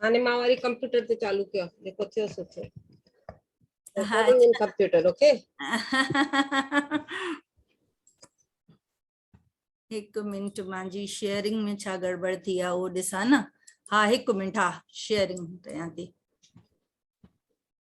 هاڻي مان وري ڪمپيوٽر تي چالو ڪيو جيڪو ٿيو سو ٿيو ڪمپيوٽر اوڪي هڪ منٽ مانجي شيئرنگ ۾ ڇا گڙبڙ ٿي آ اهو ڏسان نه ها هڪ منٽ ها شيئرنگ ڪيان ٿي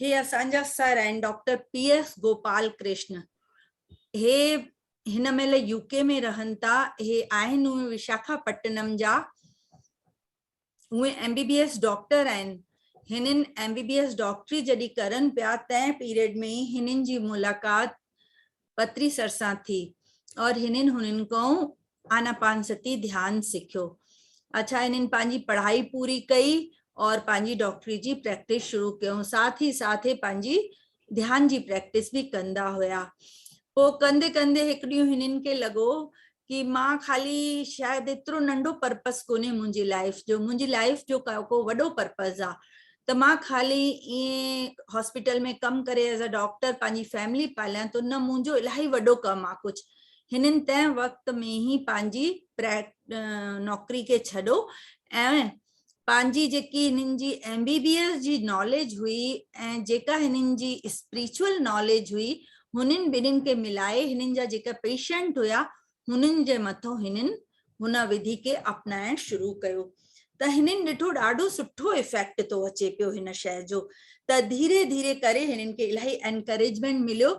هي اسان جا سر آهن doctor P S Gopal Krishan هي هن مهل يو ڪي ۾ رهن ٿا هي آهن اهي وشاکا پٽنم جا اهي M B B S doctor آهن هنن ايم بي بي ايس ڊاڪٽري جڏهن ڪرن پيا تنهن پيريڊ ۾ هنن جي ملاقات پتري سرسان ٿي اور هنن هنن ڪئون آناپانستي ڌيان سکيو اڇا هنن پنهنجي پڙهائي پوري ڪئي اور پنهنجي ڊاڪٽري جي پريڪٽس شروع ڪيون ساٿ هي ساٿ هي پنهنجي ڌيان جي پريڪٽس به ڪندا هيا پو ڪندي ڪندي هڪ ڏينهن هنن کي لڳو ڪي مان خالي شايد ايترو ننڍو پرپس ڪونهي منهنجي لائف جو منهنجي لائف جو ڪو وڏو پرپس آ ته مان خالي ائين هاسپيٽل ۾ ڪم ڪري ايز ا ڊاڪٽر پنهنجي فيملي پاليان ته نه منهنجو الاهي وڏو ڪم آ ڪجهه هنن تنهن وقت ۾ هي پنهنجي نوڪري کي ڇڏو ۽ پنهنجي جيڪي هنن جي ايم بي بي ايس جي ناليج هئي ۽ جيڪا هنن جي اسپريچوئل ناليج هئي هنن ٻنهين کي ملائي هنن جا جيڪا پيشنٽ هيا هنن جي مٿو هنن هن وڌي کي اپنائڻ شروع ڪيو ته هنن ڏٺو ڏاڍو سٺو افيڪٽ ٿو اچي پيو هن شئ جو ته ڌيري ڌيري ڪري هنن کي الاهي انڪريجمينٽ مليو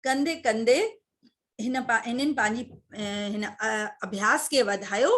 ڪندي ڪندي هن هنن پنهنجي هن اڀياس کي وڌايو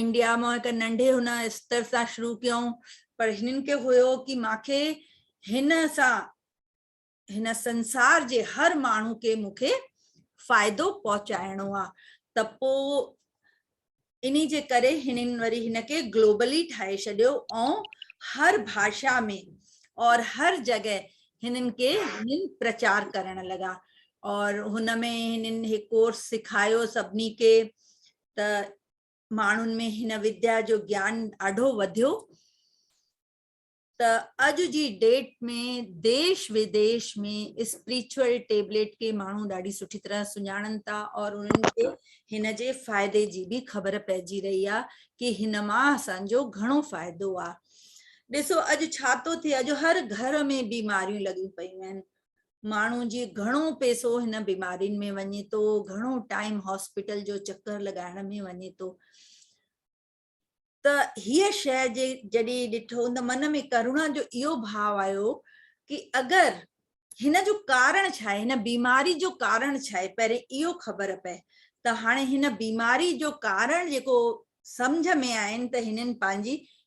انڊيا مان هڪ ننڍي هن استر سان شروع ڪيائون پر هنن کي هيو ڪي مان کي هن سان هن سنسار جي هر ماڻهو کي مون کي فائدو پهچائڻو آ ته پو اني جي ڪري هنن وري هن کي گلوبلي ٺاهي شڏيو ۽ هر ڀاشا ۾ اور هر جڳهه هنن کي هنن پرچار ڪرڻ لڳا اور هن ۾ هنن هي ڪورس سکايو سڀني کي ته ماڻهن ۾ هن وديا جو گيان ڏاڍو وڌيو ته اڄ جي ڊيٽ ۾ ديش وديش ۾ اسپريچوئل ٽيبليٽ کي ماڻهو ڏاڍي سٺي طرح سڃاڻن ٿا اور انهن کي هن جي فائدي جي به خبر پئجي رهي آهي ڪي هن مان اسانجو گهڻو فائدو آهي ڏسو اڄ ڇا ٿو ٿئي اڄ هر گهر ۾ بيماريون لڳيون پيون آهن ماڻهو جي گهڻو پيسو هن بيمارين ۾ وڃي ٿو گهڻو ٽائيم هاسپيٽل جو چڪر لڳائڻ ۾ وڃي ٿو ته هيء شيء جي جڏهن ڏٺو ته من ۾ ڪرونا جو اهو ڀاو آيو ڪي اگر هن جو ڪارڻ ڇا آهي هن بيماري جو ڪارڻ ڇا آهي پهرين اهو خبر پئي ته هاڻي هن بيماري جو ڪارڻ جيڪو سمجھ ۾ آين ته هنن پنهنجي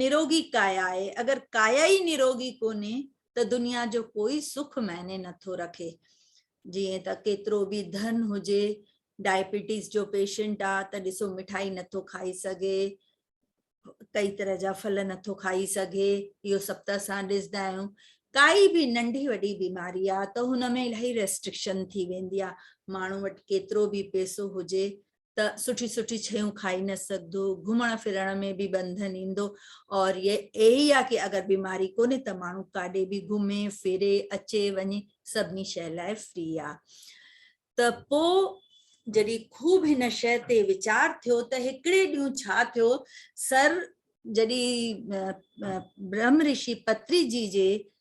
نروگي ڪايا آهي، اگر ڪايا ئي نروگي ڪونهي ته دنيا جو ڪوئي سک معني نه ٿو رکي. جيئن ته ڪيترو به ڌن هجي، ڊائبيٽيز جو پيشنٽ آ ته ڏسو مٺائي نه ٿو کائي سگهي، ڪئي طرح جا ڦل نه ٿو کائي سگهي، اهو سڀ ته اسان ڏسدا آهيون. ڪائي به ننڍي وڏي بيماري آ ته هن ۾ الاهي ريسٽرڪشن ٿي ويندي آ، ماڻهو وٽ ڪيترو به پيسو هجي ته سٺي سٺي شيون کائي نه سگھدو گھمڻ ڦرڻ ۾ به ٻنڌن ايندو اور يي اھي آ ڪي اگر بيماري ڪونھي ته ماڻھو ڪاڏي به گھمي ڦري اچي وڃي سڀني شيء لاء فري آ ته پو جڏھن خوب ھن شيء تي ويچار ٿيو ته ھڪڙي ڏينھن ڇا ٿيو سر جڏھن برھم رشي پتري جي جي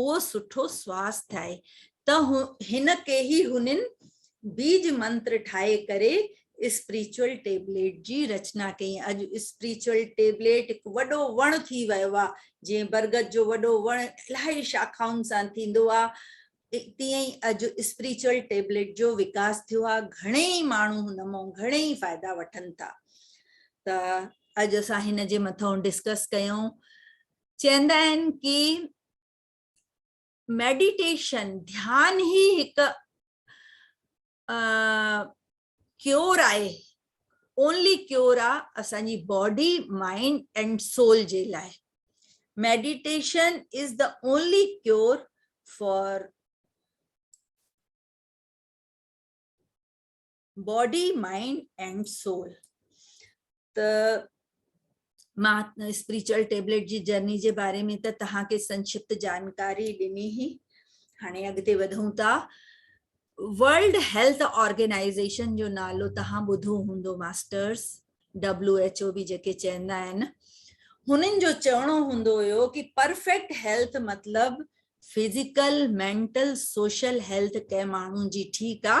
اهو سٺو سواس ٿائي ته هن ڪيهي هنين بيج منتر ٺاهي ڪري اسپريچوئل ٽيبليٽ جي رچنا ڪئي ۽ اڄ اسپريچوئل ٽيبليٽ هڪ وڏو وڻ ٿي ويو آهي جيئن برگد جو وڏو وڻ الاهي شاخائن سان ٿيندو آهي تيئن ئي اڄ اسپريچوئل ٽيبليٽ جو وڪاس ٿيو آهي گهڻي ئي ماڻهو هن مئن گهڻي ئي فائدا وٺن ٿا ته اڄ اسان هن جي مٿئون ڊسڪس ڪيون چوندا آهن ڪي ميڊيٽيشن ڌيان هي هڪ ڪيور آهي اونلي ڪيور آ اسان جي باڊي مائنڊ اينڊ سول جي لاء meditation is the only cure for body mind and soul ته مان اسپريچل ٽيبليٽ جي جرني جي باري ۾ ته تهانکي سنکشپت جانڪاري ڏني هي هاڻي اڳتي وڌون ٿا ورلڊ هيلٿ آرگنائزيشن جو نالو تهان ٻڌو هوندو ماسٽرس ڊبليو ايچ او به جيڪي چوندا آهن هنن جو چوڻو هوندو هيو ڪي پرفيڪٽ هيلٿ مطلب فزيڪل مينٽل سوشل هيلٿ ڪنهن ماڻهو جي ٺيڪ آ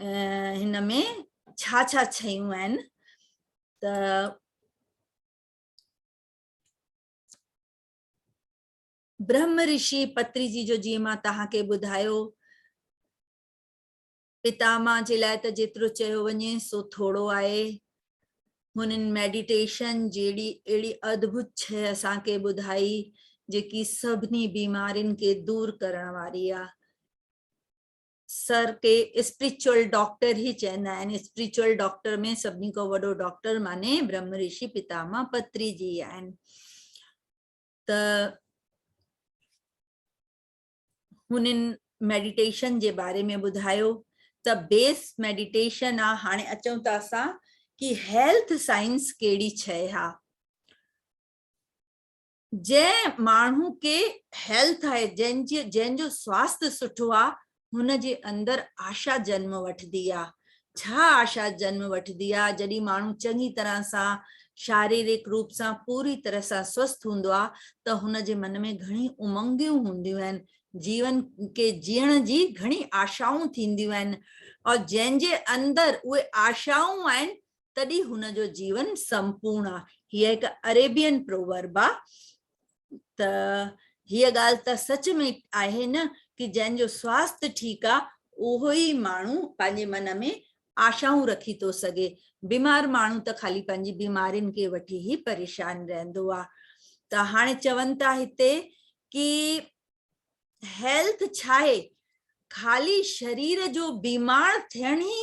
هن ۾ ڇا ڇا شيون آهن ته برهم رشي پتري جي جو جيئن مان توهان کي ٻڌايو پتاما جي لاء ته جيترو چيو وڃي سو ٿورو آهي هنن ميڊيٽيشن جهڙي اهڙي ادڀت شي اسان کي ٻڌائي جيڪي سڀني بيمارين کي دور ڪرڻ واري آهي سر کي اسپريچوئل ڊاڪٽر هي چوندا آهن اسپريچوئل ڊاڪٽر ۾ سڀني کان وڏو ڊاڪٽر ماني برهم رشي پتاما پتري جي آهن ته هنن ميڊيٽيشن جي باري ۾ ٻڌايو ته بيس ميڊيٽيشن آ هاڻي اچون ته اسان ڪي هيلٿ سائنس ڪهڙي شئي ها جنهن ماڻهو کي هيلٿ آهي جنهن جي جنهن جو سواست سٺو آ هن جي اندر آشا جنم وٺدي آ ڇا آشا جنم وٺدي آ جڏي ماڻهو چڱي طرح سان شاريرڪ روپ سان پوري طرح سان سوست هوندو آ ته هن جي من ۾ گهڻي امنگيون هونديون آهن جيون کي جيئڻ جي گهڻي آشائون ٿينديون آهن ۽ جنهن جي اندر اهي آشائون آهن تڏهن هن جو جيون سمپورن آ هيء هڪ اريبين پروورب آ ته هيء ڳالهه ته سچ ۾ آهي نه ڪي جنهن جو سواست ٺيڪ آ اهو ئي ماڻهو پنهنجي من ۾ آشائون رکي ٿو سگهي بيمار ماڻهو ته خالي پنهنجي بيمارين کي وٺي هي پريشان رهندو آ ته هاڻي چون ٿا هتي ڪي هيلٿ ڇاهي خالي شرير جو بيمار ٿيڻ ئي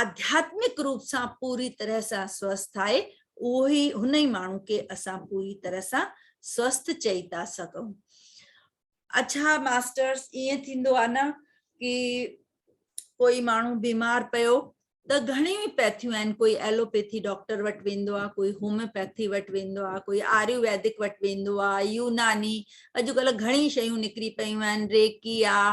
آڌياتمڪ روپ سان پوري طرح سان سوسٿ آهي، اهو ئي هن ئي ماڻهو کي اسان پوري طرح سان سوسٿ چئي ٿا سگهون. اڇا ماسٽرس ائين ٿيندو آهي نه ڪي ڪوئي ماڻهو بيمار پيو ته گهڻيون ئي پيٿيون آهن ڪوئي ايلوپيٿي ڊاڪٽر وٽ ويندو آهي ڪوئي هوميوپيٿي وٽ ويندو آهي ڪوئي آريو ويدڪ وٽ ويندو آهي يوناني اڄڪلهه گهڻي شيون نڪري پيون آهن ريڪي آهي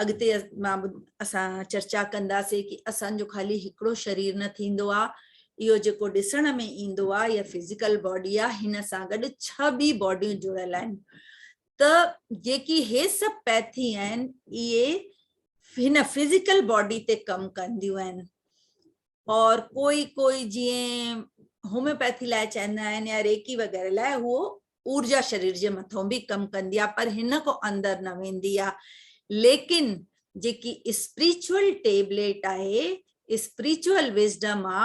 اڳتي مان اسان چرچا ڪنداسين ڪي اسان جو خالي هڪڙو شرير نه ٿيندو آ اهو جيڪو ڏسڻ ۾ ايندو آ يا فزيڪل باڊي آ هن سان گڏ ڇهه ٻي باڊيون جڙيل آهن ته جيڪي هي سڀ پيٿي آهن اهي هن فزيڪل باڊي تي ڪم ڪنديون آهن اور ڪوئي ڪوئي جيئن هوميوپيٿي لاء چوندا آهن يا ريڪي وغيره لاء هو اورجا شرير جي مٿو به ڪم ڪندي آ پر هن کان اندر نه ويندي آ ليڪن جيڪي اسپريچوئل ٽيبليٽ آهي اسپريچوئل وزڊم آ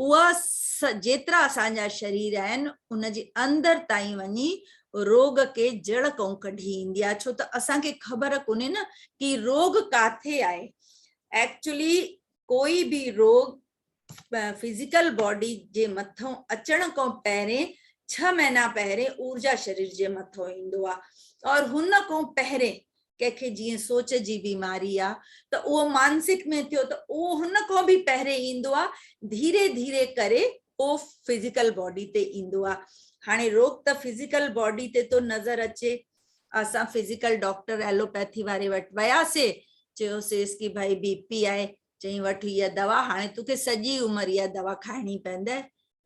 اها جيترا اسان جا شرير آهن ان جي اندر تائين وڃي روڳ کي جڙ کان ڪڍي ايندي آ ڇو ته اسان کي خبر ڪونهي نه ڪي روڳ ڪاٿي آهي ايڪچولي ڪوئي به روڳ فزيڪل باڊي جي مٿئون اچڻ کان پهرين ڇهه مهينا پهرين اورجا شرير جي مٿئون ايندو آهي اور هن کان پهرين ڪنهن کي جيئن سوچ جي بيماري آهي ته اهو مانسڪ ۾ ٿيو ته اهو هن کان به پهرين ايندو آهي ڌيري ڌيري ڪري اهو فزيڪل باڊي تي ايندو آهي هاڻي روڳ ته فزيڪل باڊي تي ٿو نظر اچي اسان فزيڪل ڊاڪٽر ايلوپيٿي واري وٽ وياسي چيوسيس ڪي ڀائي بي پي آهي چئين وٺ هي دوا هاڻي توکي سڄي عمر يا دوا کائڻي پيندي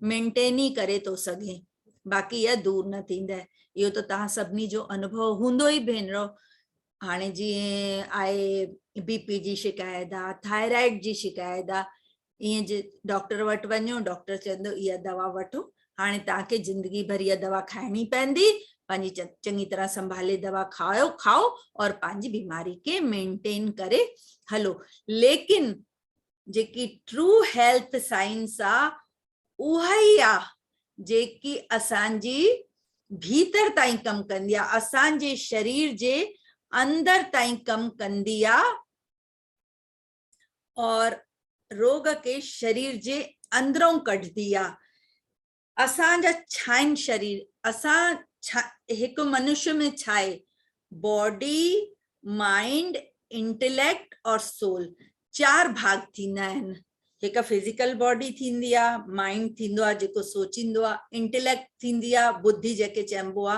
مينٽين ئي ڪري تو سگهين باقي يا دور نه ٿيندي اهو ته تان سڀني جو انڀو هوندو ئي ڀينرو هاڻي جي آهي بي پي جي شڪايت آ ٿائرائيڊ جي شڪايت آ ايئن جي ڊاڪٽر وٽ وڃو ڊاڪٽر چوندو اها دوا وٺو هاڻي توهان کي زندگي ڀر اها دوا کائڻي پوندي پنهنجي چڱي طرح سنڀالي دوا کائو کائو اور پنهنجي بيماري کي مينٽين ڪري هلو ليڪن جيڪي ٽرو هيلٿ سائنس آ اها ئي آ جيڪي اسانجي ڀيتر تائين ڪم ڪندي آ اسانجي شرير جي اندر تائين ڪم ڪندي آ اور روڳ کي شرير جي اندرئون ڪڍدي آ اسان جا ڇائن شرير اسان هڪ منشي ۾ ڇائي باڊي مائنڊ انٽيليڪٽ اور سول چار ڀاڳ ٿيندا آهن هڪ فزيڪل باڊي ٿيندي آ مائنڊ ٿيندو آ جيڪو سوچيندو آ انٽيليڪٽ ٿيندي آ ٻڌي جيڪي چئبو آ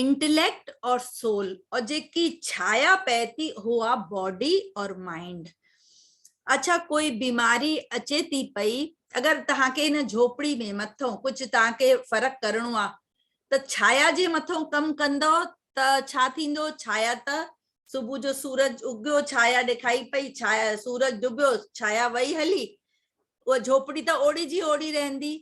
انٽليڪٽ اور سول اور جيڪي ڇايا پئي ٿي اها باڊي اور مائنڊ اڇا ڪوئي بيماري اچي ٿي پئي اگر تهان کي هن جھوپڙي ۾ مٿو ڪجھ تهان کي فرق ڪرڻو آ ته ڇايا جي مٿو ڪم ڪندو ته ڇا ٿيندو ڇايا ته صبح جو سورج اگيو ڇايا ڏيکائي پئي ڇايا سورج ڊبيو ڇايا وئي هلي اها جھوپڙي ته اوڙي جي اوڙي رهندي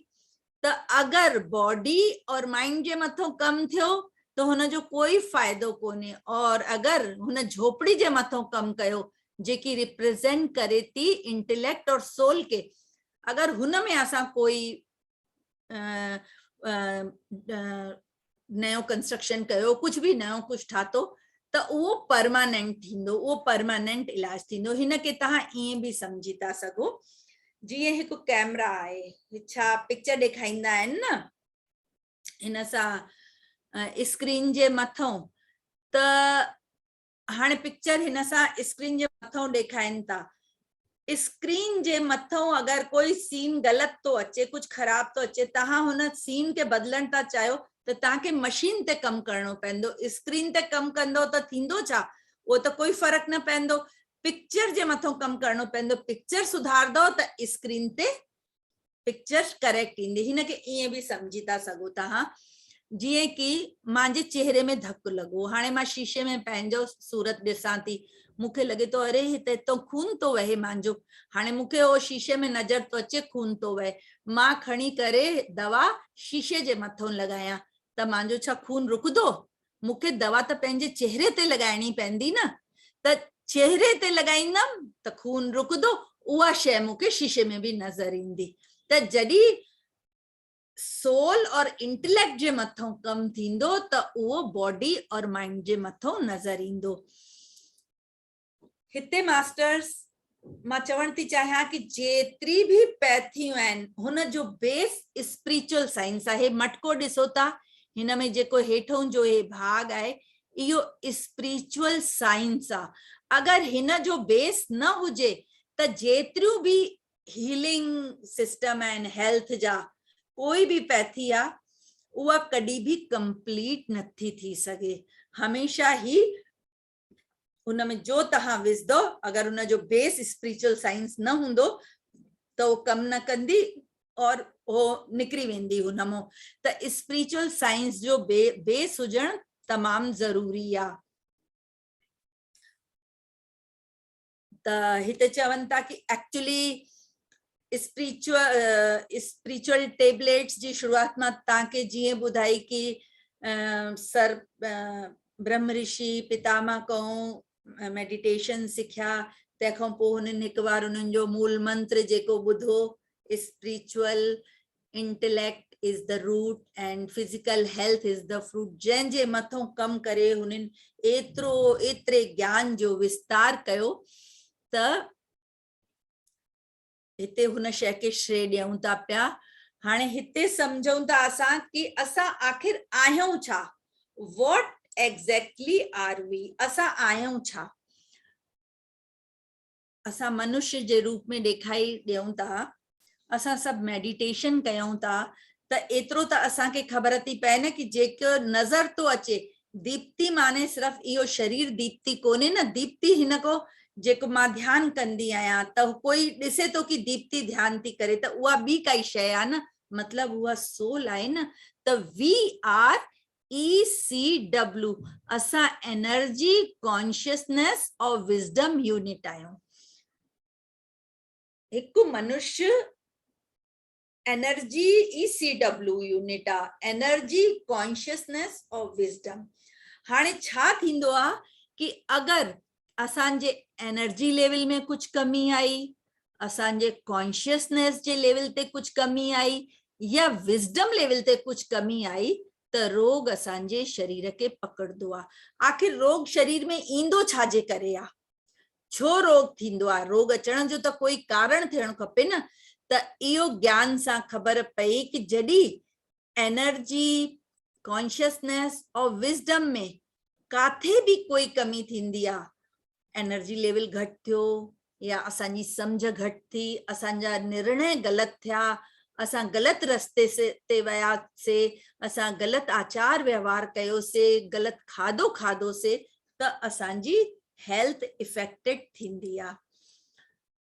ته اگر باڊي اور مائنڊ جي مٿو ڪم ٿيو ته هن جو ڪوئي فائدو ڪونهي اور اگر هن جهوپڙي جي مٿو ڪم ڪيو جيڪي ريپريزينٽ ڪري ٿي انٽيليڪٽ اور سول کي اگر هن ۾ اسان ڪوئي نيو ڪنسٽرڪشن ڪيو ڪجھ به نيو ڪجھ ٺاتو ته اهو پرماننٽ ٿيندو اهو پرماننٽ علاج ٿيندو هن کي تهان ائين به سمجھي ٿا سگھو جيئن هڪ ڪيمرا آهي ڇا پڪچر ڏيکائيندا آهن نه هن سان اسڪرين جي مٿو ته هاڻي پڪچر هن سان اسڪرين جي مٿئون ڏيکائين ٿا اسڪرين جي مٿئون اگر ڪوئي سين غلط ٿو اچي ڪجهه خراب ٿو اچي توهان هن سين کي بدلڻ ٿا چاهيو ته توهان کي مشين تي ڪم ڪرڻو پوندو اسڪرين تي ڪم ڪندو ته ٿيندو ڇا اهو ته ڪوئي فرق نه پوندو پڪچر جي مٿئون ڪم ڪرڻو پوندو پڪچر سڌاردو ته اسڪرين تي پڪچر ڪريڪٽ ايندي هن کي ائين به سمجهي ٿا سگهو تهان جيئن ڪي مانجي چهري ۾ ڌڪ لڳو هاڻي مان شيشي ۾ پنهنجو صورت ڏسان ٿي مون کي لڳي ٿو اري هتي تو خون ٿو وهي مانجو هاڻي مون کي اهو شيشي ۾ نظر ٿو اچي خون ٿو وهي مان کڻي ڪري دوا شيشي جي مٿو لڳايان ته مانجو ڇا خون رڪندو مون کي دوا ته پنهنجي چهري تي لڳائڻي پوندي نه ته چهري تي لڳائيندم ته خون رڪندو اها شيء مون کي شيشي ۾ به نظر ايندي ته جڏهن سول اور انٽليڪٽ جي مٿئون ڪم ٿيندو ته اهو باڊي اور مائنڊ جي مٿئون نظر ايندو هتي ماسٽرس مان چوڻ ٿي چاهيان ڪي جيتري به پيٿيون آهن هن جو بيس اسپريچل سائنس آهي مٽڪو ڏسو ٿا هن ۾ جيڪو هيٺون جو هي ڀاڳ آهي اهو اسپريچل سائنس آ اگر هن جو بيس نه هجي ته جيتريون به هيلنگ سسٽم آهن هيلٿ جا ڪوئي به پيٿي آ اها ڪڏي به ڪمپليٽ نٿي ٿي سگهي هميشه هي ان ۾ جو توهان وجھدؤ اگر ان جو بيس اسپريچوئل سائنس نه هوندو ته اهو ڪم نه ڪندي اور اهو نڪري ويندي هن مون ته اسپريچوئل سائنس جو بيس هجڻ تمام ضروري آ. ته هتي چون ٿا ڪي ايڪچولي اسپريچوئل ٽيبليٽس جي شروعات مان تان کي جيئن ٻڌائي ڪي سر برهم رشي پتا مان ڪئون ميڊيٽيشن سکيا تنهن کان پوء هنن هڪ بار انهن جو مول منتر جيڪو ٻڌو spiritual intellect is the root and physical health is the fruit جنهن جي مٿون ڪم ڪري هنن ايترو ايتري گيان جو وستار ڪيو ته هتي هن شئي کي شري ڏيون ٿا پيا هاڻي هتي سمجهون ٿا اسان ڪي اسان آخر آهيون ڇا واٽ ايگزيڪٽلي آر وي اسان آهيون ڇا اسان منشي جي روپ ۾ ڏيکائي ڏيون ٿا، اسان سڀ ميڊيٽيشن ڪيون ٿا ته ايترو ته اسان کي خبر ٿي پئي نه ڪي جيڪو نظر ٿو اچي ديپتي معني صرف اهو شرير ديپتي ڪونهي نه ديپتي هن ڪو جيڪو مان ڌيان ڪندي آهيان ته ڪوئي ڏسي ٿو ڪي ديپتي ڌيان ٿي ڪري ته اها ٻي ڪائي شيء آهي نه مطلب اها سول آهي نه ته وي آر ECW، اسان انرجي، ڪانشسنيس اور وزڊم يونٽ آهيون. هڪ منش انرجي، ECW، يونٽ آ، انرجي، ڪانشسنيس اور وزڊم. هاڻي ڇا ٿيندو آ ڪي اگر اسان جي انرجي ليول ۾ ڪجهه ڪمي آئي اسان جي ڪانشيسنيس جي ليول تي ڪجهه ڪمي آئي يا وزڊم ليول تي ڪجهه ڪمي آئي ته روڳ اسان جي شرير کي پڪڙندو آ آخر روڳ شرير ۾ ايندو ڇا جي ڪري آ ڇو روڳ ٿيندو آ روڳ اچڻ جو ته ڪوئي ڪارڻ ٿيڻ کپي نه ته اهو گيان سان خبر پئي ڪه جڏي انرجي، ڪانشسنيس اور وزڊم ۾ ڪاٿي به ڪوئي ڪمي ٿيندي آ، انرجي ليول گهٽ ٿيو يا اسان جي سمجهه گهٽ ٿي، اسان جا نرڻي غلط ٿيا، اسان غلط رستي تي ويا سي، اسان غلط آچار وهنوار ڪيو سي، غلط کاڌو کاڌو سي ته اسان جي هيلٿ افيڪٽيڊ ٿيندي آ.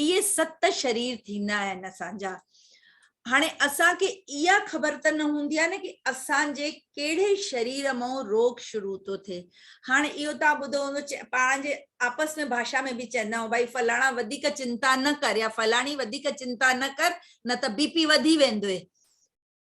اهي ست شرير ٿيندا آهن اسان جا. هاڻي اسان کي اها خبر ته نه هوندي آهي نه ڪي اسان جي ڪهڙي شرير مئون روڳ شروع ٿو ٿئي. هاڻي اهو توهان ٻڌو هوندو پاڻ جي آپس ۾ ڀاشا ۾ به چوندا آهيون ڀائي فلاڻا وڌيڪ چنتا نه ڪر يا فلاڻي وڌيڪ چنتا نه ڪر نه ته بي پي وڌي ويندوئي.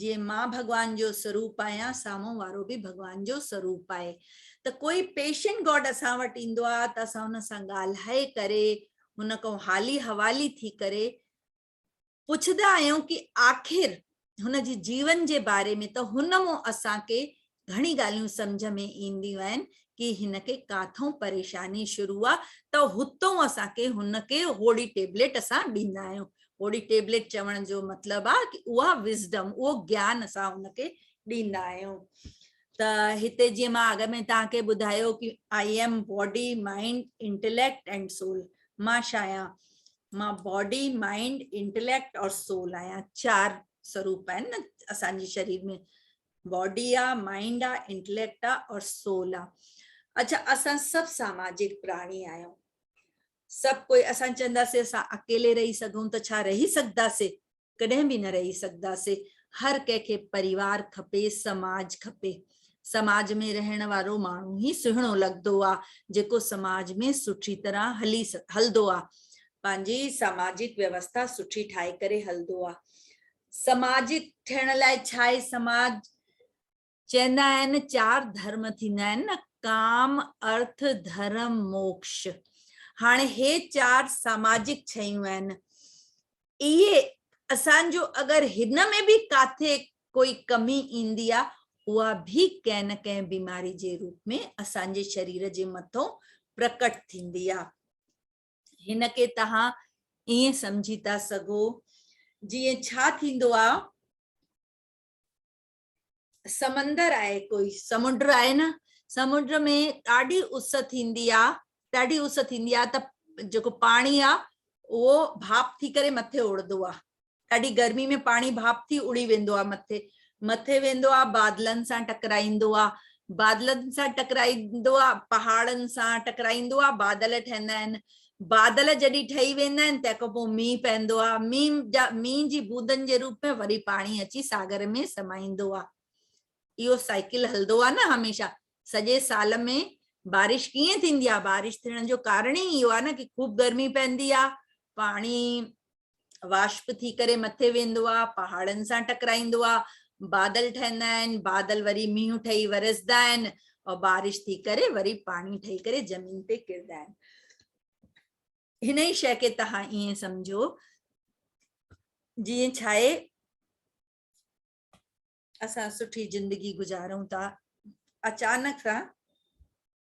جيئن مان ڀڳوان جو سروپ آهيان سامهون وارو به ڀڳوان جو سروپ آهي ته ڪوئي پيشنٽ گاڊ اسان وٽ ايندو آهي ته اسان هن سان ڳالهائي ڪري هن کان حالي حوالي ٿي ڪري پڇندا آهيون ڪي آخر هن جي جيون جي باري ۾ ته هن مون اسان کي گهڻي ڳالهيون سمجهه ۾ اينديون آهن ڪي هن کي ڪاٿئون پريشاني شروع آ ته هتئون اسان کي هن کي هوڙي ٽيبليٽ اسان ڏيندا آهيون هوڙي ٽيبليٽ چوڻ جو مطلب آ ڪي اها وزڊم اهو گيان اسان هن کي ڏيندا آهيون ته هتي جيئن مان اڳ ۾ توهان کي ٻڌايو ڪي I am body mind intellect and soul مان ڇا آهيان مان باڊي مائنڊ انٽيليڪٽ اور سول آهيان چار سروپ آهن نه اسان جي شرير ۾ باڊي آ مائنڊ آ انٽليڪٽ آ اور سول آ اڇا اسان سڀ ساماجڪ پراڻي آهيون سڀ ڪوئي اسان چونداسي اسان اڪيلي رهي سگهون ته ڇا رهي سگهداسي ڪڏهن به نه رهي سگهداسي هر ڪنهن کي پريوار کپي سماج کپي سماج ۾ رهڻ وارو ماڻهو هي سهڻو لڳندو آ جيڪو سماج ۾ سٺي طرح هلي هلندو آ پنهنجي سماجڪ ويوستا سٺي ٺاهي ڪري هلندو آ سماجي ٺهڻ لاء ڇاهي سماج؟ چئندا آهن چار ڌرم ٿيندا آهن نه ڪام، ارٿ، ڌرم، موڪش. هاڻي هي چار ساماجڪ شيون آهن. اهي اسان جو اگر هن ۾ به ڪاٿي ڪوئي ڪمي ايندي آ اها به ڪنهن نه ڪنهن بيماري جي روپ ۾ اسان جي شرير جي مٿئون پرڪٽ ٿيندي آ. هن کي تهان ائين سمجهي ٿا سگهو جيئن ڇا ٿيندو آ سمندر آهي ڪوئي سمنڊ آهي نه سمنڊ ۾ ڏاڍي اس ٿيندي آ ڏاڍي اس ٿيندي آ ته جيڪو پاڻي آ اهو ڀاپ ٿي ڪري مٿي اڙندو آ ڏاڍي گرمي ۾ پاڻي ڀاپ ٿي اڙي ويندو آ مٿي مٿي ويندو آ بادلن سان ٽڪرائيندو آ بادلن سان ٽڪرائيندو آ پهاڙن سان ٽڪرائيندو آ بادل ٺهندا آهن بادل جڏهن ٺهي ويندا آهن تنهن کان پوء مينهن پوندو آ مينهن جا مينهن جي بوندن جي روپ ۾ وري پاڻي اچي ساگر ۾ سمائيندو آ اهو سائيڪل هلندو آ نه هميشه سڄي سال ۾ بارش ڪيئن ٿيندي آ بارش ٿيڻ جو ڪارڻ ئي اهو آ نه ڪي خوب گرمي پوندي آ پاڻي واشپ ٿي ڪري مٿي ويندو آ پهاڙن سان ٽڪرائيندو آ بادل ٺهندا آهن بادل وري مينهن ٺهي ورسدا آهن او بارش ٿي ڪري وري پاڻي ٺهي ڪري زمين تي ڪردا آهن هن ئي شئي کي تهان ائين سمجهو جيئن ڇا آهي اسان سٺي زندگي گذارون ٿا اچانڪ سان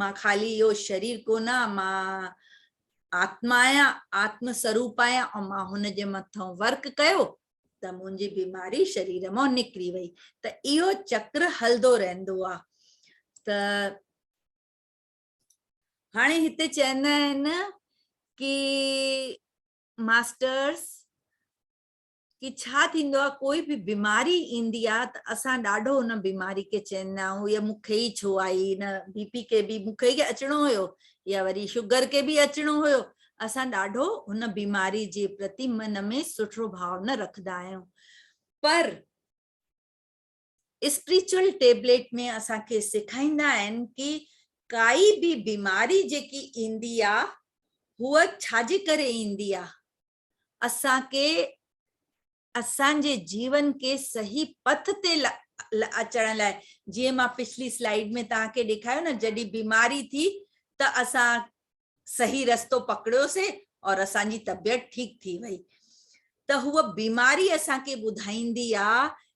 مان خالي اهو شرير ڪونه آهيان، مان آتما آهيان، آتم سروپ آهيان ۽ مان هن جي مٿان ورڪ ڪيو ته منهنجي بيماري شرير مان نڪري وئي ته اهو چڪر هلندو رهندو آهي ته هاڻي هتي چوندا آهن ڪي ماسٽرس ڪي ڇا ٿيندو آ ڪوئي به بيماري ايندي آ ته اسان ڏاڍو ان بيماري کي چيندا آهيون اها مون کي ئي ڇو آئي ان بي پي کي به مون کي ئي اچڻو هيو يا وري شگر کي به اچڻو هيو اسان ڏاڍو ان بيماري جي پرتي من ۾ سٺو ڀاء نه رکندا آهيون پر اسپريچل ٽيبليٽ ۾ اسان کي سيکائيندا آهن ڪي ڪائي به بيماري جيڪي ايندي آ هو ڇا جي ڪري ايندي آ اسان کي اسان جي جيون کي صحيح پٿ تي اچڻ لاء جيئن مان پڇلي سلائيڊ ۾ توهان کي ڏيکايو نه جڏهن بيماري ٿي ته اسان صحيح رستو پڪڙيو سي اور اسان جي طبيعت ٺيڪ ٿي وئي ته هو بيماري اسان کي ٻڌائيندي آ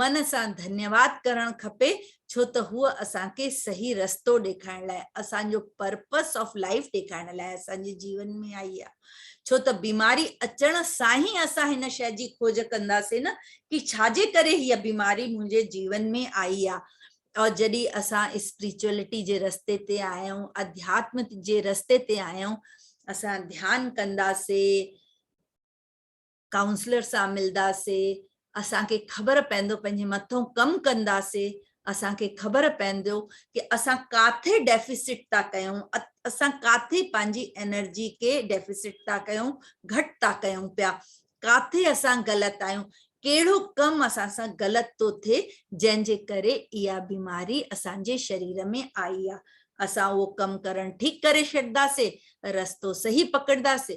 من سان ڌنيواد ڪرڻ کپي ڇو ته هوء اسان کي صحيح رستو ڏيکارڻ لاء اسان جو پرپس آف لائيف ڏيکارڻ لاء اسان جي جيون ۾ آئي آ ڇو ته بيماري اچڻ سان هي اسان هن شئي جي کوج ڪنداسين نه ڪي ڇا جي ڪري هي بيماري منهنجي جيون ۾ آئي آ ۽ جڏهن اسان اسپريچوئلٽي جي رستي تي آيا آهيون اڌياتم جي رستي تي آيا آهيون اسان ڌيان ڪنداسين ڪائونسلر سان ملداسي اسان کي خبر پئندو پنهنجي مٿئون ڪم ڪنداسي اسان کي خبر پئندو ڪي اسان ڪاٿي ڊيفيسٽ ٿا ڪيون اسان ڪاٿي پنهنجي انرجي کي ڊيفيسٽ ٿا ڪيون گهٽ ٿا ڪيون پيا ڪاٿي اسان غلط آهيون ڪهڙو ڪم اسان سان غلط ٿو ٿئي جنهن جي ڪري اها بيماري اسان جي شرير ۾ آئي آهي اسان اهو ڪم ڪرڻ ٺيڪ ڪري ڇڏداسي رستو صحيح پڪڙداسي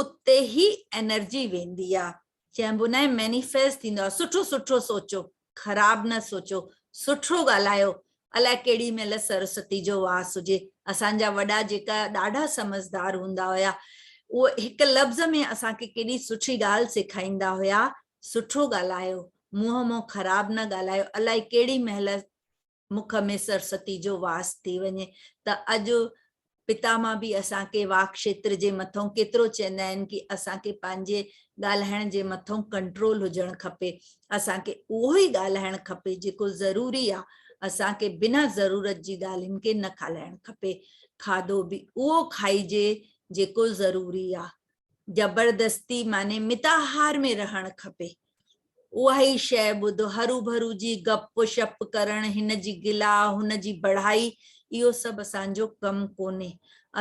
اتي ئي انرجي ويندي آ چئبو ناهي مينيفيسٽ ٿيندو آ سٺو سٺو سوچو خراب نه سوچو سٺو ڳالهايو الاء ڪهڙي مهل سرسوتي جو واس هجي اسان جا وڏا جيڪا ڏاڍا سمجهدار هوندا هيا اهو هڪ لفظ ۾ اسان کي ڪيڏي سٺي ڳالهه سيکائيندا هيا سٺو ڳالهايو منهن مون خراب نه ڳالهايو الاء ڪهڙي مهل مک ۾ سرسوتي جو واس ٿي وڃي ته اڄ پتاما به اسان کي واڪ کيتر جي مٿئون ڪيترو چوندا آهن ڪي اسان کي پنهنجي ڳالهائڻ جي مٿئون ڪنٽرول هجڻ کپي اسان کي اهو ئي ڳالهائڻ کپي جيڪو ضروري آهي اسان کي بنا ضرورت جي ڳالهين کي نه کالائڻ کپي کاڌو به اهو کائجي جيڪو ضروري آهي زبردستي معني متاهار ۾ رهڻ کپي. اها ئي شيء ٻڌ، هروڀرو جي گپ شپ ڪرڻ، هن جي گلا، هن جي بڙهائي، اهو سڀ اسان جو ڪم ڪونهي.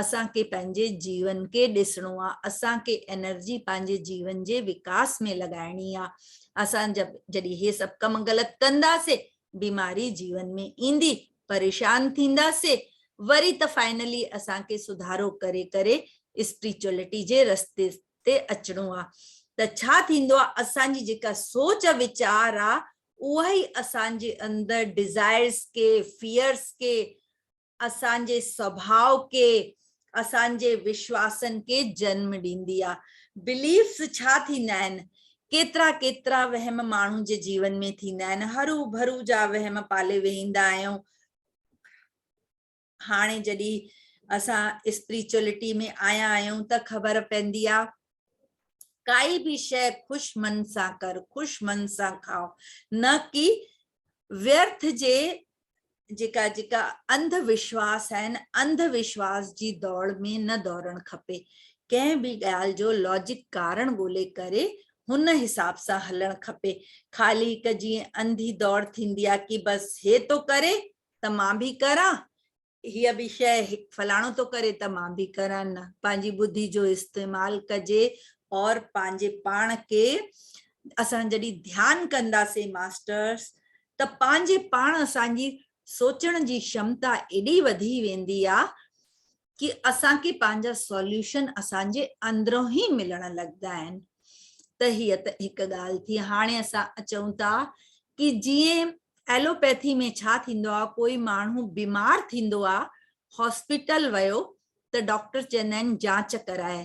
اسان کي پنهنجي جيون کي ڏسڻو آ. اسان کي انرجي پنهنجي جيون جي وڪاس ۾ لڳائڻي آ. اسان جڏهن هي سڀ ڪم غلط ڪنداسين، بيماري جيون ۾ ايندي پريشان ٿينداسين وري ته فائنلي اسان کي سڌارو ڪري ڪري اسپريچوئلٽي جي رستي تي اچڻو آ ته ڇا ٿيندو آ اسان جي جيڪا سوچ ويچار آ اها ئي اسان جي اندر ڊزائرز کي فيئرز کي اسان جي سڀاء کي اسان جي وشواسن کي جنم ڏيندي آ. بليفس ڇا ٿيندا آهن؟ ڪيترا ڪيترا وهم ماڻهو جي جيون ۾ ٿيندا آهن. هرو ڀرو جا وهم پالي ويهندا آهيون. هاڻي جڏي اسان اسپريچوئلٽي ۾ آيا آهيون ته خبر پيندي آ ڪائي به شئي خوش من سان ڪر خوش من سان کاء نه ڪي ويرٿ جي جيڪا جيڪا انڌ وشواس آهن انڌ وشواس جي دوڙ ۾ نه دورڻ کپي ڪنهن به ڳالهه جو لاجڪ ڪارڻ ڳولي ڪري هن حساب سان هلڻ کپي خالي هڪ جيئن انڌي دوڙ ٿيندي آهي ڪي بس هي ٿو ڪري ته مان به ڪران هيء به شيء فلاڻو ٿو ڪري ته مان به ڪران نه. پنهنجي ٻڌي جو استعمال ڪجي اور پنهنجي پاڻ کي اسان جڏهن ڌيان ڪنداسين ماسٽرس ته پنهنجي پاڻ اسان جي سوچڻ جي شمتا ايڏي وڌي ويندي آ ڪي اسان کي پنهنجا سوليوشن اسان جي اندرون ئي ملڻ لڳندا آهن ته هيء ته هڪ ڳالهه ٿي هاڻي اسان اچون ٿا ڪي جيئن ايلوپيٿي ۾ ڇا ٿيندو آ ڪوئي ماڻهو بيمار ٿيندو آ هاسپيٽل ويو ته ڊاڪٽر چوندا آهن جانچ ڪراء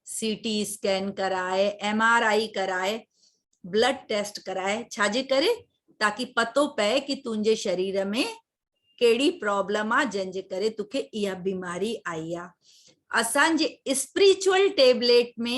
سي ٽي اسڪين ڪراء ايم آر آء ڪراء بلڊ ٽيسٽ ڪراء ڇاجي ڪري تاڪي پتو پئي ڪي تنهنجي شرير ۾ ڪهڙي پرابلم آ جنهن جي ڪري توکي اها بيماري آئي آ اسان جي اسپريچوئل ٽيبليٽ ۾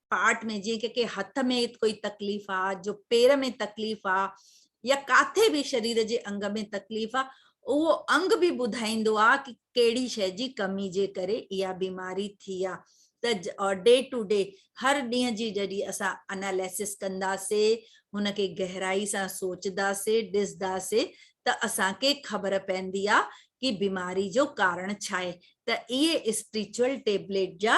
پارٽ ۾ جيئن ڪنهنکي هٿ ۾ ڪوئي تڪليف آ جو پير ۾ تڪليف آ يا ڪاٿي به شرير جي انگ ۾ تڪليف آ اهو انگ به ٻڌائيندو آ ڪي ڪهڙي شئي جي ڪمي جي ڪري اها بيماري ٿي آ ته اور ڊي ٽو ڊي هر ڏينهن جي جڏي اسان اناليسس ڪندا سي هن کي گهرائي سان سوچدا سي ڏسدا سي ته اسان کي خبر پيندي آ ڪي بيماري جو ڪارڻ ڇا آهي ته اهي اسپريچوئل ٽيبليٽ جا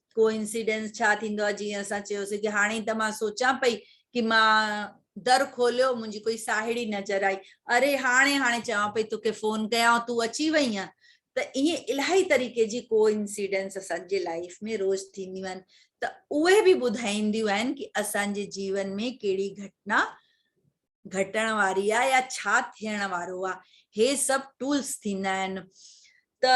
ڪو انسيڊنس ڇا ٿيندو آهي جيئن اسان چيوسي ڪي هاڻي ته مان سوچان پئي ڪي مان در کوليو منهنجي ڪوئي ساهيڙي نظر آئي اري هاڻي هاڻي چوان پئي توکي فون ڪيان تون اچي وئي آهين ته ائين الاهي طريقي جي ڪو انسيڊنس اسان جي لائف ۾ روز ٿينديون آهن ته اهي به ٻڌائينديون آهن ڪي اسان جي جيون ۾ ڪهڙي گهٽنا گهٽڻ واري آهي يا ڇا ٿيڻ وارو آهي هي سڀ ٽولس ٿيندا آهن ته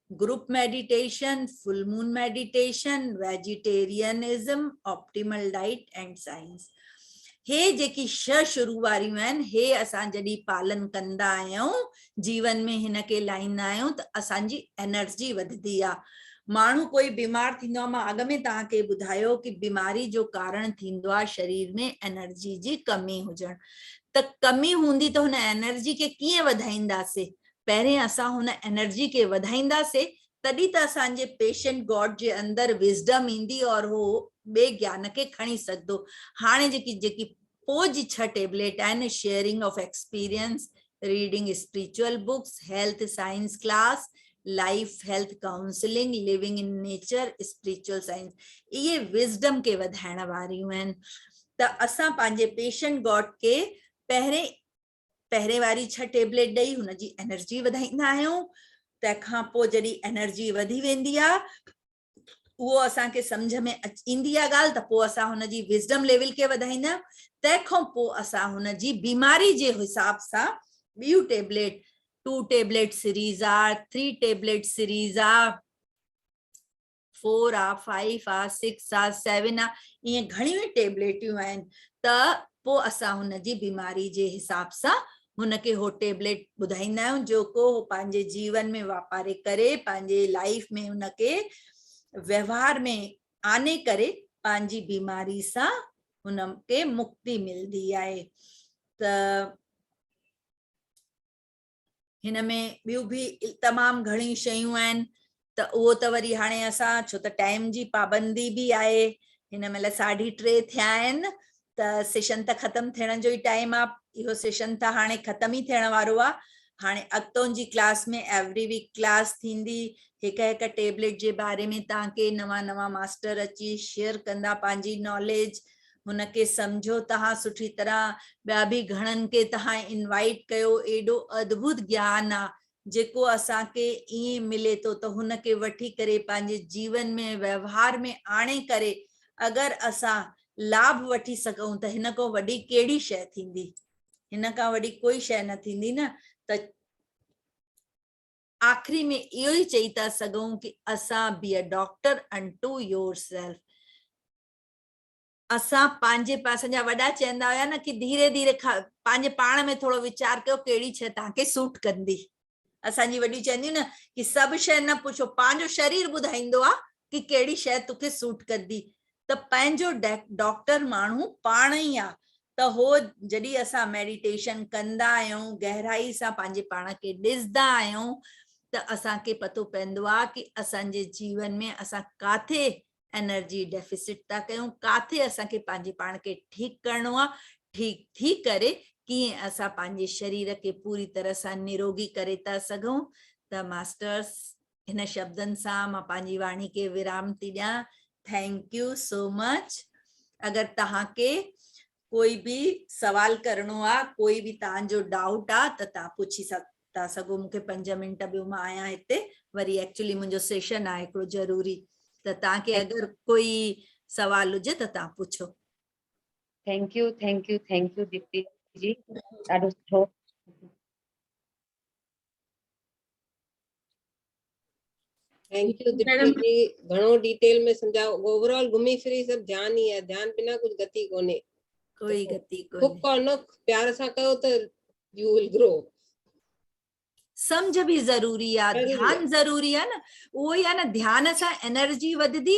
group meditation, full moon meditation, vegetarianism, optimal diet and science. هي جيڪي شھ شروع واريون آهن، هي اسان جڏهن پالن ڪندا آهيون، جيون ۾ هن کي لائيندا آهيون ته اسان جي انرجي وڌدي آ. ماڻهو ڪوئي بيمار ٿيندو آ، مان اڳ ۾ توهان کي ٻڌايو ڪي بيماري جو ڪارڻ ٿيندو آ شرير ۾ انرجي جي ڪمي هجڻ ته ڪمي هوندي ته هن انرجي کي ڪيئن وڌائينداسي پهرين اسان هن انرجي کي وڌائيندا سي تڏهن ته اسان جي پيشنٽ گاڊ جي اندر وزڊم ايندي اور هو ٻئي گيان کي کڻي سگهندو هاڻي جيڪي جيڪي پوء جي ڇهه ٽيبليٽ آهن sharing of experience reading spiritual books health science class life health counselling living in nature spiritual science اهي وزڊم کي وڌائڻ واريون آهن ته اسان پنهنجي پيشنٽ گاڊ کي پهرين پهرين واري ڇهه ٽيبليٽ ڏئي هن جي انرجي وڌائيندا آهيون تنهن کان پوء جڏهن انرجي وڌي ويندي آهي اهو اسان کي سمجھ ۾ ايندي آهي ڳالهه ته پوء اسان هن جي وزڊم ليول کي وڌائيندا آهيون تنهن کان پوء اسان هن جي بيماري جي حساب سان ٻيون ٽيبليٽ ٽو ٽيبليٽ سيريز آ ٿري ٽيبليٽ سيريز آ فور آ فائيف آ سڪس آ سيون آ ائين گهڻيون ئي ٽيبليٽيون آهن ته پوء اسان هن جي بيماري جي حساب سان هن کي هو ٽيبليٽ ٻڌائيندا آهيون جيڪو هو پنهنجي جيون ۾ واپاري ڪري پنهنجي لائيف ۾ ان کي ويوهار ۾ آني ڪري پنهنجي بيماري سان هن کي مڪتي ملندي آهي ته هن ۾ ٻيون به تمام گهڻيون شيون آهن ته اهو ته وري هاڻي اسان ڇو ته ٽائيم جي پابندي به آهي هن مهل ساڍي ٽي ٿيا آهن ته سيشن ته ختم ٿيڻ جو ئي ٽائيم آهي اهو سيشن ته هاڻي ختم ئي ٿيڻ وارو آهي هاڻي اڳتو جي ڪلاس ۾ ايوري ويڪ ڪلاس ٿيندي هڪ هڪ ٽيبليٽ جي باري ۾ تان ڪي نوان نوان ماستر اچي شيئر ڪندا پنهنجي ناليج هن کي سمجهو تهان سٺي طرح ٻيا به گهڻن کي تهان انوائيٽ ڪيو ايڏو اڌڀوت گيان آ جيڪو اسان کي ائين ملي ٿو ته هن کي وٺي ڪري پنهنجي جيون ۾ ۽ وهنوار ۾ آڻي ڪري اگر اسان لاڀ وٺي سگهون ته هن کان وڏي ڪهڙي شي ٿيندي هن کان وڏي ڪوئي شي نه ٿيندي نه ته آخري ۾ اهو ئي چئي ٿا سگهون ڪي اسان be a doctor into yourself اسان پنهنجي اسان جا وڏا چئندا هيا نه ڪي ڌيري ڌيري کاء پنهنجي پاڻ ۾ ٿورو ويچار ڪيو ڪهڙي شئي توهان کي سوٽ ڪندي. اسان جي وڏيون چونديون نه ڪي سڀ شئي نه پڇو پنهنجو شرير ٻڌائيندو آ ڪي ڪهڙي شئي تو کي سوٽ ڪندي ته پنهنجو ڊاڪٽر ماڻهو پاڻ ئي آ ته هو جڏهن اسان ميڊيٽيشن ڪندا آهيون گهرائي سان پنهنجي پاڻ کي ڏسدا آهيون ته اسان کي پتو پوندو آ ڪي اسان جي جيون ۾ اسان ڪاٿي انرجي ڊيفيسٽ ٿا ڪيون ڪاٿي اسان کي پنهنجي پاڻ کي ٺيڪ ڪرڻو آ ٺيڪ ٿي ڪري ڪيئن اسان پنهنجي شرير کي پوري طرح سان نروگي ڪري ٿا سگهون ته ماسٽرس هن شبدن سان مان پنهنجي واڻي کي ورام ٿي ڏيان ٿينڪ يو سو مچ اگر تهان کي ڪوئي به سوال ڪرڻو آ ڪوئي به تان جو ڊائوٽ آ ته تان پڇي ٿا سگهو مون کي پنج منٽ ڏيو مان آهيان هتي وري ايڪچولي منهنجو سيشن آهي هڪڙو ضروري ته تان کي اگر ڪوئي سوال هجي ته تان پڇو thank you thank you thank you Deepti ji ڏاڍو سٺو ٿينڪ يو ديپيا جي گھڻو ڊيٽيل ۾ سمجھاء اوور آل گھمي ڦري سڀ ڌيان ئي آهي ڌيان بنا ڪجھ گتي ڪونهي ڪوئي گتي ڪونهي ڪوڪ اور نوڪ پيار سان ڪيو ته يو ول گرو سمجھ به ضروري آ ڌيان ضروري آ نه اهو ئي آ نه ڌيان سان انرجي وڌدي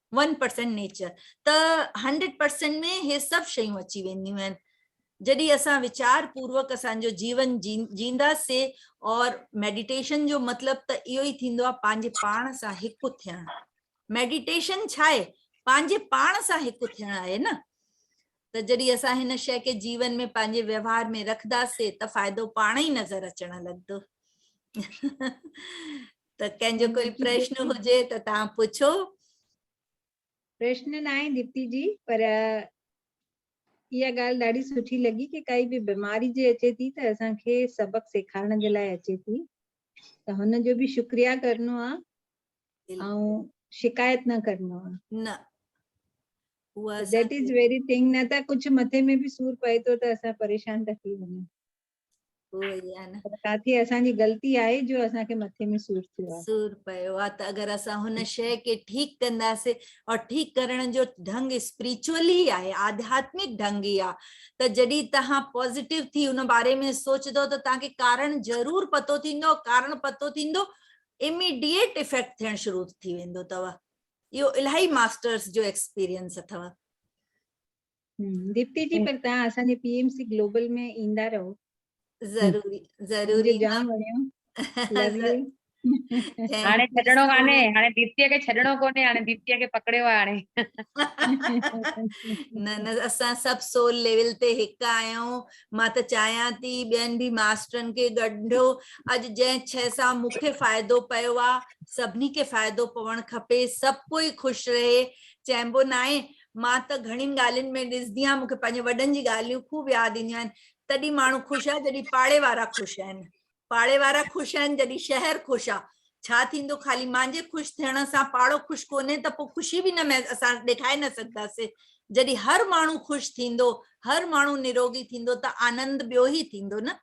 ون پرسنٽ نيچر ته هنڊريڊ پرسنٽ ۾ هي سڀ شيون اچي وينديون آهن جڏهن اسان ويچار پوروڪ اسان جو جيون جينداسي اور ميڊيٽيشن جو مطلب ته اهو ئي ٿيندو آهي پنهنجي پاڻ سان هڪ ٿيڻ ميڊيٽيشن ڇا آهي پنهنجي پاڻ سان هڪ ٿيڻ آهي نه ته جڏهن اسان هن شي کي جيون ۾ پنهنجي ويوهار ۾ رکنداسي ته فائدو پاڻ ئي نظر اچڻ لڳندو ته ڪنهن جو ڪوئي پرشن هجي ته تان پڇو پرشن ناهي ديپتي جي پر اها ڳالهه ڏاڍي سٺي لڳي ڪي ڪائي به بيماري جي اچي ٿي ته اسان کي سبق سيکارڻ جي لاء اچي ٿي ته هن جو به شڪريا ڪرڻو آ ۽ شڪايت نه ڪرڻو آ نه هو ذيٽ از ويري ٿنگ نه ته ڪجهه مٿي ۾ به سور پئي ٿو ته اسان پريشان ٿا ٿي وڃون ڪاٿي اسان جي غلطي آهي جو اسان کي مٿي ۾ سور ٿيو آهي سور پيو آهي ته اگر اسان هن شي کي ٺيڪ ڪنداسين اور ٺيڪ ڪرڻ جو ڍنگ اسپريچوئل ئي آهي آڌياتمڪ ڍنگ ئي آهي ته جڏهن توهان پازيٽو ٿي ان باري ۾ سوچندو ته توهان کي ڪارڻ ضرور پتو ٿيندو ڪارڻ پتو ٿيندو اميڊيٽ افيڪٽ ٿيڻ شروع ٿي ويندو اٿو اهو الاهي ماسترس جو ايڪسپيرينس اٿو ديپتي جي پر تان اسان جي پي ايم سي گلوبل ۾ ايندا رهو ضروري ضروري جام وڻيو هاڻي ڇڏڻو ڪانهي هاڻي ديپتي کي ڇڏڻو ڪونهي هاڻي ديپتي کي پڪڙيو آهي هاڻي نه نه اسان سڀ سول ليول تي هڪ آهيون مان ته چاهيان ٿي ٻين به ماسترن کي ڳنڍو اڄ جنهن شي سان مونکي فائدو پيو آهي سڀني کي فائدو پوڻ کپي سڀ ڪوئي خوش رهي چئبو ناهي مان ته گهڻين ڳالهين ۾ ڏسندي آهيان مونکي پنهنجي وڏن جي ڳالهيون خوب ياد اينديون آهن تڏهن ماڻهو خوش آهي جڏهن پاڙي وارا خوش آهن پاڙي وارا خوش آهن جڏهن شهر خوش آهي ڇا ٿيندو خالي مانجي خوش ٿيڻ سان پاڙو خوش ڪونهي ته پوء خوشي به نه اسان ڏيکاري نه سگهنداسي جڏهن هر ماڻهو خوش ٿيندو هر ماڻهو نروگي ٿيندو ته آنند ٻيو ئي ٿيندو نه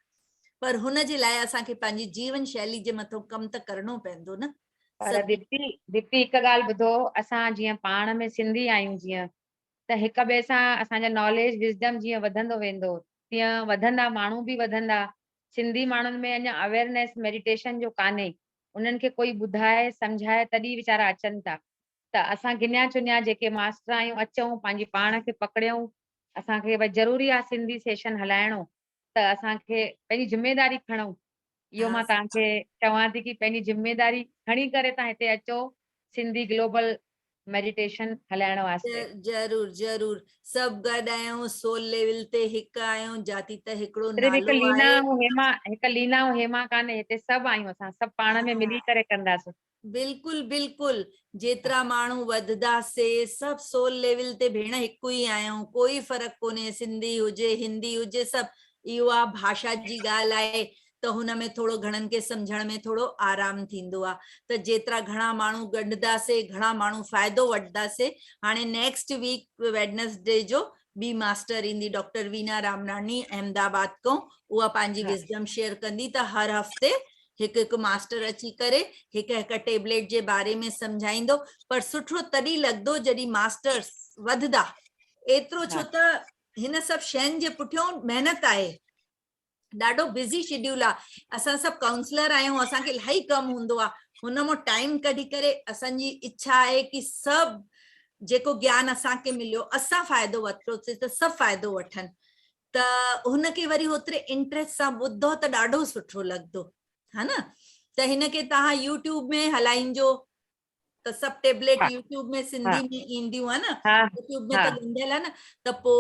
پر هن جي لاء اسان کي پنهنجي جيون شيلي جي مٿو ڪم ته ڪرڻو پوندو نه پر ديپتي ديپتي هڪ ڳالهه ٻڌو اسان جيئن پاڻ ۾ سنڌي آهيون جيئن ته هڪ ٻئي سان اسان جا ناليج وزڊم جيئن وڌندو ويندو تيئن وڌندا ماڻهو به وڌندا سنڌي ماڻهن ۾ اڃا اويرنيس ميڊيٽيشن جو ڪانهي انهن کي ڪوئي ٻڌائي سمجهائي تڏهن ويچارا اچن ٿا ته اسان گنيا چنيا جيڪي ماسٽر آهيون اچون پنهنجي پاڻ کي پڪڙيون اسان کي ڀئي ضروري آهي سنڌي سيشن هلائڻو ته اسان کي پنهنجي ذميواري کڻو اهو مان تهان کي چوان ٿي ڪي پنهنجي ذميواري کڻي ڪري تهان هتي اچو سنڌي گلوبل ميڊيٽيشن هلائڻ واسطي. ضرور ضرور سڀ گڏ آهيون سول ليول تي هڪ آهيون جاتي ته هڪڙو صرف هڪ نالو لينا آهي. ۽ هيما هڪ لينا ۽ هيما ڪانهي هتي سڀ آهيون اسان سڀ پاڻ ۾ ملي ڪري ڪنداسين. بلڪل بلڪل جيترا ماڻهو وڌدا سي سڀ سول ليول تي ڀيڻ هڪ ئي آهيون ڪوئي فرق ڪونهي سنڌي هجي هندي هجي سڀ اهو آ ڀاشا جي ڳالهه آهي ته هن ۾ ٿورو گهڻن کي سمجهڻ ۾ ٿورو آرام ٿيندو آ ته جيترا گهڻا ماڻهو ڳنڍدا سي گهڻا ماڻهو فائدو وٺدا سي هاڻي نيڪسٽ ويڪ ويڊنسڊي جو ٻي ماسٽر ايندي ڊاڪٽر وينا رامناڻي احمد آباد کان اها پنهنجي وزڊم شيئر ڪندي ته هر هفتي هڪ هڪ ماسٽر اچي ڪري هڪ هڪ ٽيبليٽ جي باري ۾ سمجهائيندو پر سٺو تڏهن لڳندو جڏهن ماسٽرس وڌدا ايترو ڇو ته هن سڀ شين جي پٺيون محنت آهي. ڏاڍو بزي شيڊيول آ اسان سڀ ڪائونسلر آهيون اسان کي الاهي ڪم هوندو آ هن مان ٽائيم ڪڍي ڪري اسان جي اڇا آهي ڪي سڀ جيڪو گيان اسان کي مليو اسان فائدو ورتو سي ته سڀ فائدو وٺن ته هن کي وري هوتري انٽريسٽ سان ٻڌو ته ڏاڍو سٺو لڳندو ها نه ته هن کي تهان يوٽيوب ۾ هلائينجو ته سڀ ٽيبليٽ يوٽيوب ۾ سنڌي ۾ اينديون ها نه يوٽيوب ۾ ته ڏنل ها نه ته پو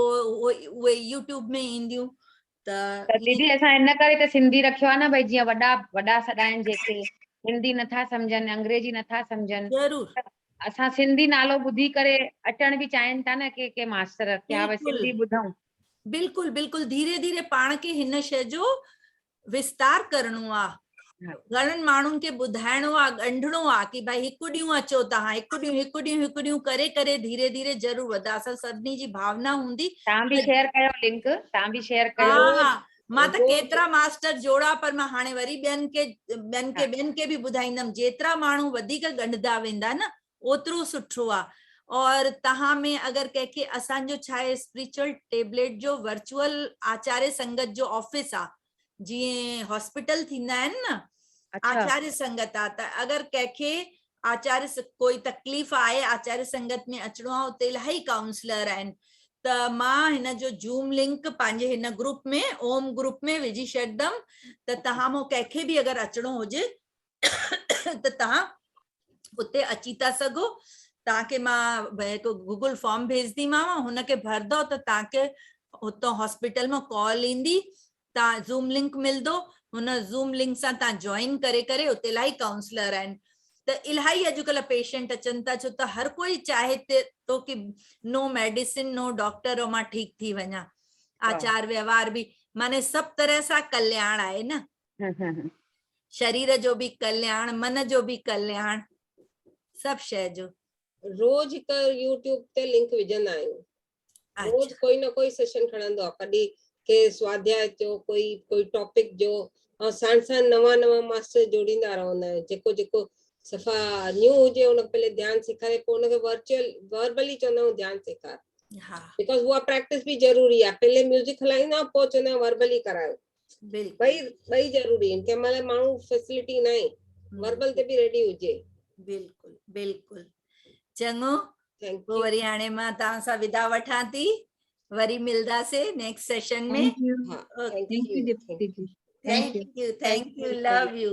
اهي يوٽيوب ۾ اينديون ته ديدي اسان ان ڪري ته سنڌي رکيو ها نه ڀئي جيئن وڏا وڏا سڏائين جيڪي هندي نٿا سمجهن انگريزي نٿا سمجهن ضرور اسان سنڌي نالو ٻڌي ڪري اچڻ به چاهين ٿا نه ڪي ڪي ماستر ڪي ها سنڌي ٻڌون بلڪل بلڪل ڌيري ڌيري پاڻ کي هن شئي جو وستار ڪرڻو آ گھڻن ماڻهن کي ٻڌائڻو آ ڳنڍڻو آ ڪي ڀائي هڪ ڏينهن اچو توهان هڪ ڏينهن هڪ ڏينهن هڪ ڏينهن ڪري ڪري ڌيري ڌيري ضرور وڌا اسان سڀني جي ڀاونا هوندي توهان به شيئر ڪيو لنڪ توهان به شيئر ڪيو ها ها مان ته ڪيترا ماستر جوڙا پر مان هاڻي وري ٻين کي ٻين کي ٻين کي به ٻڌائيندم جيترا ماڻهو وڌيڪ ڳنڍدا ويندا نه اوترو سٺو آ اور تهان ۾ اگر ڪنهن کي اسان جو ڇا آهي اسپريچوئل ٽيبليٽ جو ورچوئل آچاري سنگت جو آفيس آ جيئن هاسپيٽل ٿيندا آهن نه اڇا آچاري سنگت آ ته اگر ڪنهن کي آچاري ڪوئي تڪليف آهي آچاري سنگت ۾ اچڻو آ اتي الاهي ڪائونسلر آهن ته مان هن جو زوم لنڪ پنهنجي هن گروپ ۾ اوم گروپ ۾ وجهي شڏدم ته تهان مون ڪنهن کي به اگر اچڻو هجي ته توهان اتي اچي ٿا سگهو توهان کي مان هڪ گوگل فارم ڀيجنديماو هن کي ڀردو ته توهان کي اتو هاسپيٽل مان ڪال ايندي توهان زوم لنڪ ملندو هن زوم لنڪ سان توهان جوائن ڪري ڪري اتي الاهي ڪائونسلر آهن ته الاهي اڄڪلهه پيشنٽ اچن ٿا ڇو ته هر کوئي چاهي ٿو ڪي نو ميڊيسن نو ڊاڪٽر او مان ٺيڪ ٿي وڃان آچار ويوهار به معنی سڀ طرح سان ڪلياڻ آهي نه شرير جو به ڪلياڻ من جو به ڪلياڻ سڀ شيء جو. روز هڪ يوٽيوب تي لنڪ وجهندا آهيون روز ڪوئي نه ڪوئي سيشن کڻندو آهي ڪڏي ڪي سواڌياء جو ڪوئي ڪوئي ٽاپڪ جو ۽ ساڻ ساڻ نوان نوان ماستر جوڙيندا رهندا آهيون جيڪو جيڪو صفا نيو هجي ان کي پهلي ڌيان سيکاري پوء ان کي ورچوئل وربلي چوندا آهيون ڌيان سيکار بڪاز اها پريڪٽس به ضروري آهي پهلي ميوزڪ هلائيندا پوء چوندا آهيون وربلي ڪرايو بلڪل ٻئي ضروري آهن ڪنهن مهل ماڻهو فيسلٽي ناهي وربل تي به ريڊي هجي بلڪل بلڪل چڱو پوء وري هاڻي مان توهان سان ودا وٺان ٿي وري ملداسي next session ۾ thank you thank you thank you love U